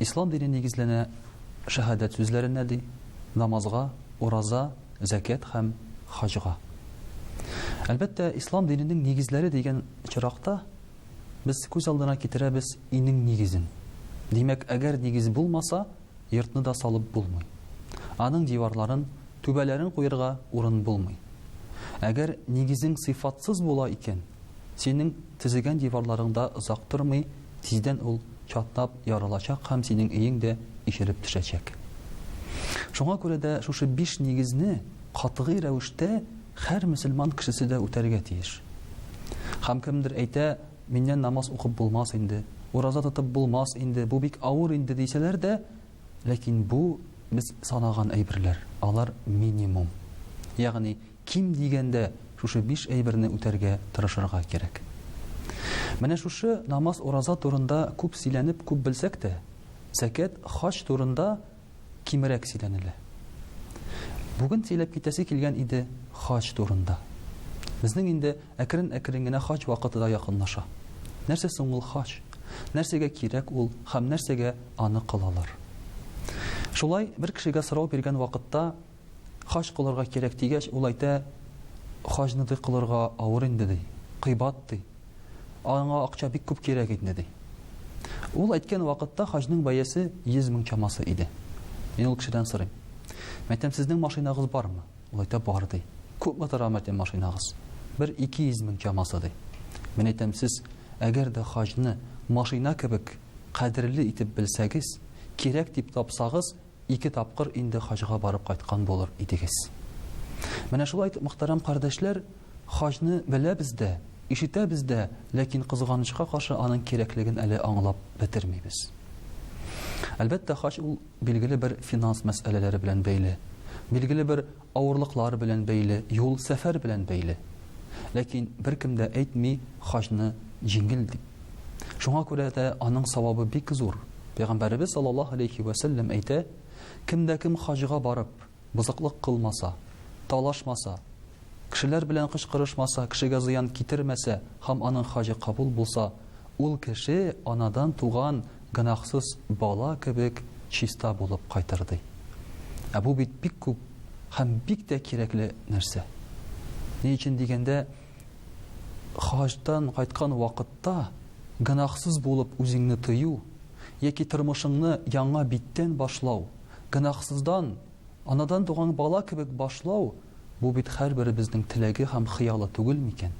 Ислам дине нигезләнә шәһадәт сүзләренә, ди, намазга, ураза, зәкят һәм хаҗга. Әлбәттә, Ислам диненең нигезләре дигән очракта без күз алдына китерәбез инең нигезен. Димәк, әгәр нигез булмаса, йортны да салып булмый. Аның диварларын, түбәләрен куерга урын булмый. Әгәр нигезең сыйфатсыз була икән, синең Төзегән диварларың да озак тормый, тиздән ул чатнап ярылачак һәм синең өең дә ишелеп төшәчәк. Шуңа күрә дә шушы биш нигезне катгый рәвештә һәр мөселман кешесе дә үтәргә тиеш. Һәм кемдер әйтә, миннән намаз укып булмас инде, ураза тотып булмас инде, бу бик авыр инде, дисәләр дә, ләкин бу без санаган әйберләр, алар минимум. Ягъни Ким дигәндә шушы биш әйберне үтәргә тырышырга кирәк. Менә шушы намаз-ураза турында күп сөйләнеп, күп белсәк тә, зәкят, хаҗ турында кимрәк сөйләнелә. Бүген сөйләп китәсе килгән иде хаҗ турында. Безнең инде әкрен-әкрен генә хаҗ вакыты да якынлаша. Нәрсә соң ул хаҗ? Нәрсәгә кирәк ул һәм нәрсәгә аны кылалар? Шулай бер кешегә сорау биргән вакытта, Хаҗ кылырга кирәк, дигәч, ул әйтә, Хаҗны, ди, кылырга авыр инде, ди, кыйбат, ди. Аңа акча бик күп кирәк инде, ди. Ул әйткән вакытта хаҗның бәясе йөз мең чамасы иде. Мин ул кешедән сорыйм, Мәйтәм, сезнең машинагыз бармы? Ул әйтә, Бар, ди. Күпме тора, мәйтәм, машинагыз? Бер ике йөз мең чамасы, ди. Мин әйтәм, Сез, әгәр дә хаҗны машина кебек кадерле итеп белсәгез, кирәк дип тапсагыз, Ике тапкыр инде хаҗга барып кайткан булыр идегез. Менә шулай итеп, мөхтәрәм кардәшләр, хаҗны беләбез дә, ишетәбез дә, ләкин, кызганычка каршы, аның кирәклеген әле аңлап бетермибез. Әлбәттә, хаҗ ул, билгеле бер финанс мәсьәләләре белән бәйле, билгеле бер Авырлыклар белән бәйле, юл, сәфәр белән бәйле. Ләкин беркем дә әйтми хаҗны җиңел дип. Шуңа күрә дә аның савабы бик зур. Пәйгамбәребез саллаллаһу галәйһи вә сәлләм әйтә, Кем дә кем хаҗга барып, бозыклык кылмаса, талашмаса, кешеләр белән кычкырышмаса, кешегә зыян китермәсә һәм аның хаҗы кабул булса, ул кеше анадан туган гөнаһсыз бала кебек чиста булып кайтыр, ди. Ә бу бит бик күп һәм бик тә кирәкле нәрсә. Ни өчен дигәндә, хаҗдан кайткан вакытта гөнаһсыз булып үзеңне тою яки тормышыңны яңа биттән башлау, гөнаһсыздан, анадан туган бала кебек башлау, бу бит һәрберебезнең теләге һәм хыялы түгел микән?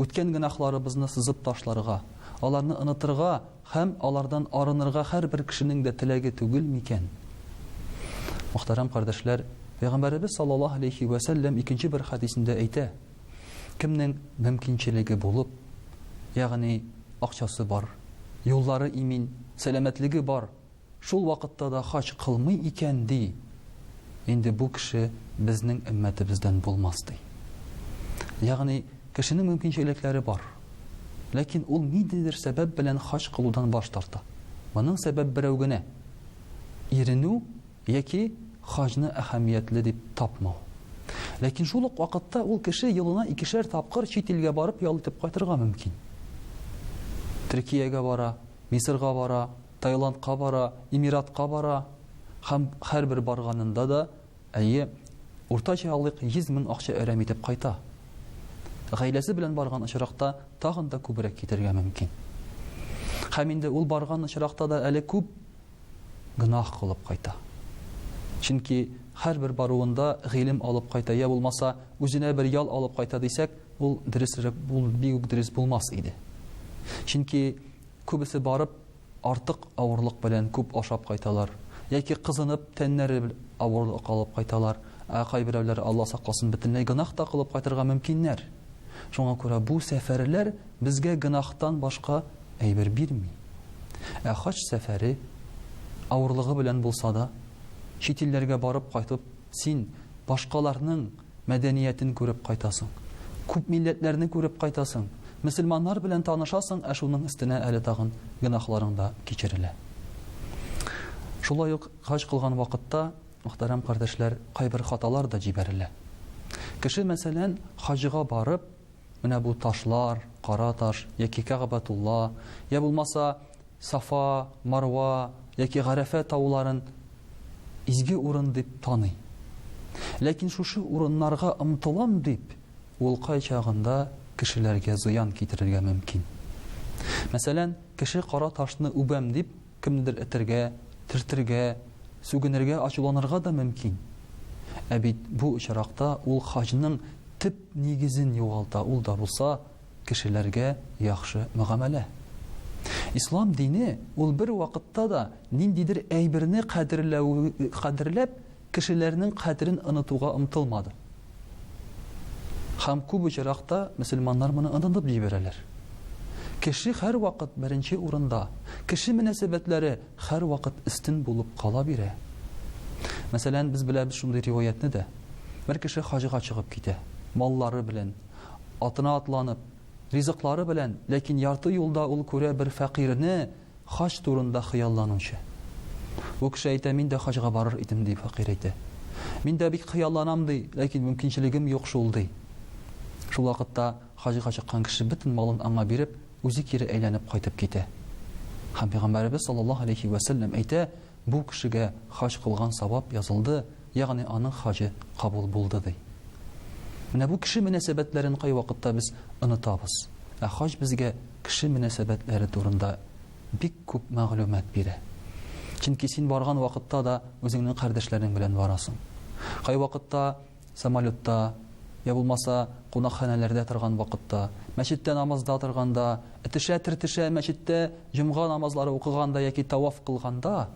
Үткән гөнаһларыбызны сызып ташларга, аларны онытырга Һәм алардан арынырга һәрбер кешенең дә теләге түгел микән? Мөхтәрәм кардәшләр, Пәйгамбәребез саллаллаһу галәйһи вә сәлләм икенче бер хәдисендә әйтә, Кемнең мөмкинчелеге булып, ягъни акчасы бар, юллары имин, сәламәтлеге бар, Шул вакытта да хаҗ кылмый икән, ди, инде бу кеше безнең өммәтебездән булмас, ди. Ягъни, кешенең мөмкинчелекләре бар, ләкин ул ниндидер сәбәп белән хаҗ кылудан баш тарта. Моның сәбәп берәү генә, иренү яки хаҗны әһәмиятле дип тапмау. Ләкин шул ук вакытта ул кеше елына икешәр тапкыр чит илгә барып ял итеп кайтырга мөмкин. Төркиягә бара, Мисырга бара. Таиландка бара, Эмиратка бара һәм һәрбер барганында да, әйе, уртача алыйк, 100 мең акча әрәм итеп кайта. Гаиләсе белән барган очракта тагын да күбрәк китергә мөмкин. Һәм инде ул барган очракта да әле күп гөнаһ кылып кайта. Чөнки һәрбер баруында гыйлем алып кайта, я булмаса, үзенә бер ял алып кайта дисәк, ул дөресрәк, ул бик үк дөрес булмас иде. Чөнки Күбесе барып, артык авырлык белән күп ашап кайталар. Яки кызынып, тәннәре бел авырлык алып кайталар. Ә кайберәүләре, Алла сакласын, бөтенләй гөнаһ та кылып кайтырга мөмкиннәр. Шуңа күрә бу сәфәрләр безгә гөнаһтан башка әйбер бирми. Ә хаҗ сәфәре, авырлыгы белән булса да, чит илләргә барып кайтып, син башкаларның мәдәниятен күреп кайтасың, күп милләтләрне күреп кайтасың, мөселманнар белән танышасың, ә шуның өстенә әле тагын гөнаһларың да кичерелә. Шулай ук хаҗ кылган вакытта, мөхтәрәм кардәшләр, кайбер хаталар да җибәрелә. Кеше, мәсәлән, хаҗга барып, Менә бу ташлар, кара таш, яки Кәгабәтулла, йә булмаса Сафа, Марва, яки Гарәфә тауларын изге урын дип таный. Ләкин шушы урыннарга омтылам дип, ул кайчагында кешеләргә зыян китерергә мөмкин. Мәсәлән, кеше кара ташны үбәм дип, Кемнедер этәргә, төртергә, сүгенергә, ачуланырга да мөмкин. Ә бит бу очракта ул хаҗның төп нигезен югалта, ул да булса, кешеләргә яхшы мөгамәлә. Ислам дине, ул бер вакытта да ниндидер әйберне кадерләү, кадерләп, Кешеләрнең кадерен онытуга омтылмады. Һәм күп очракта мөселманнар моны онытып җибәрәләр. Кеше һәрвакыт беренче урында, кеше мөнәсәбәтләре һәрвакыт өстен булып кала бирә. Мәсәлән, без беләбез шундый риваятьне дә. Бер кеше хаҗга чыгып китә, маллары белән, атына атланып, ризыклары белән, ләкин ярты юлда ул күрә бер фәкыйрьне, Хаҗ турында хыялланучы. Бу кеше әйтә, мин дә хаҗга барыр идем, ди фәкыйрь әйтә. Мин дә бик хыялланам, ди, ләкин мөмкинчелегем юк шул, ди. Шул вакытта хаҗга чыккан кеше бөтен малын аңа биреп, үзе кире әйләнеп кайтып китә. Һәм Пәйгамбәребез саллаллаһу алейһи вә сәлләм әйтә, Бу кешегә хаҗ кылган савап язылды, ягъни аның хаҗы кабул булды, ди. Менә бу кеше мөнәсәбәтләрен кайвакытта без онытабыз. Ә хаҗ безгә Кеше мөнәсәбәтләре турында бик күп мәгълүмат бирә. Чөнки син барган вакытта да үзеңнең кардәшләрең белән барасың. Кайвакытта самолетта, я булмаса кунакханәләрдә торган вакытта, мәчеттә намазда торганда, этешә-тертешә мәчеттә җомга намазлары укыганда яки таваф кылганда,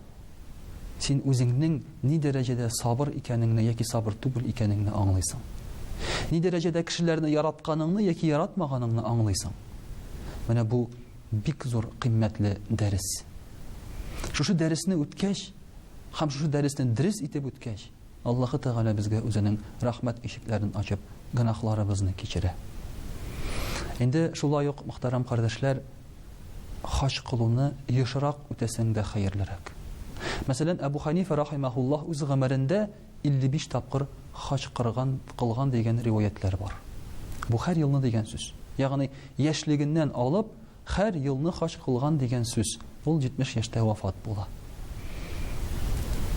син үзеңнең ни дәрәҗәдә сабыр икәнеңне яки сабыр түгел икәнеңне аңлыйсың. Ни дәрәҗәдә кешеләрне яратканыңны яки яратмаганыңны аңлыйсың. Менә бу бик зур кыйммәтле дәрес. Шушы дәресне үткәч, һәм шушы дәресне дөрес итеп үткәч, Аллаһы Тәгалә безгә Үзенең рәхмәт ишекләрен ачып, гөнаһларыбызны кичерә. Инде шулай ук, мөхтәрәм кардәшләр, хаҗ кылуны ешрак үтәсәң дә хәерлерәк. Мәсәлән, Әбу Хәнифә рахимаһуллаһ үз гомерендә 55 тапкыр хаҗ кырган, кылган дигән риваятьләр бар. Бу һәр елны дигән сүз. Ягъни, яшьлегеннән алып, Хәр елны хаҗ кылган дигән сүз, ул 70 яшьтә вафат була.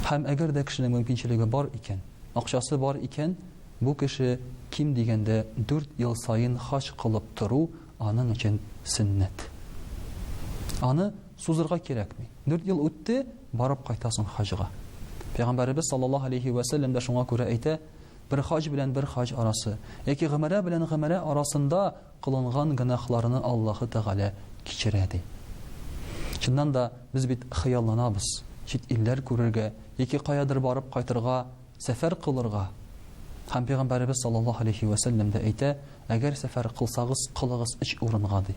Һәм әгәр дә кешенең мөмкинчелеге бар икән, акчасы бар икән, бу кеше ким дигәндә дүрт ел саен хаҗ кылып тору аның өчен сөннәт. Аны сузырга кирәкми. Дүрт ел үтте, барып кайтасың хаҗга. Пәйгамбәребез саллаллаһу алейһи вә сәлләм дә шуңа күрә әйтә, бер хаҗ белән бер хаҗ арасы, яки гомәрә белән гомәрә арасында Кылынган гөнаһларны Аллаһы Тәгалә кичерә, ди. Чыннан да, без бит хыялланабыз, чит илләр күрергә яки каядыр барып кайтырга, сәфәр кылырга. Һәм Пәйгамбәребез саллаллаһу галәйһи вә сәлләм дә әйтә, Әгәр сәфәр кылсагыз, кылыгыз өч урынга, ди,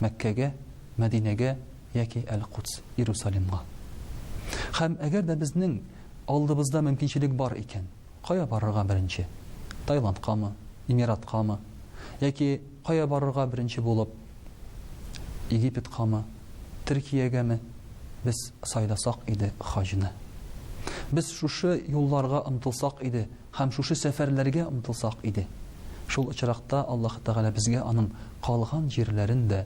Мәккәгә, Мәдинәгә яки Әл-Кудс, Иерусалимга. Һәм әгәр дә безнең алдыбызда мөмкинчелек бар икән, Кая барырга беренче? Таиландкамы, Эмираткамы? Яки кая барырга беренче булып, Египеткамы, Төркиягәме? Без сайласак иде хаҗны. Без шушы юлларга омтылсак иде һәм шушы сәфәрләргә омтылсак иде. Шул очракта Аллаһы Тәгалә безгә аның калган җирләрен дә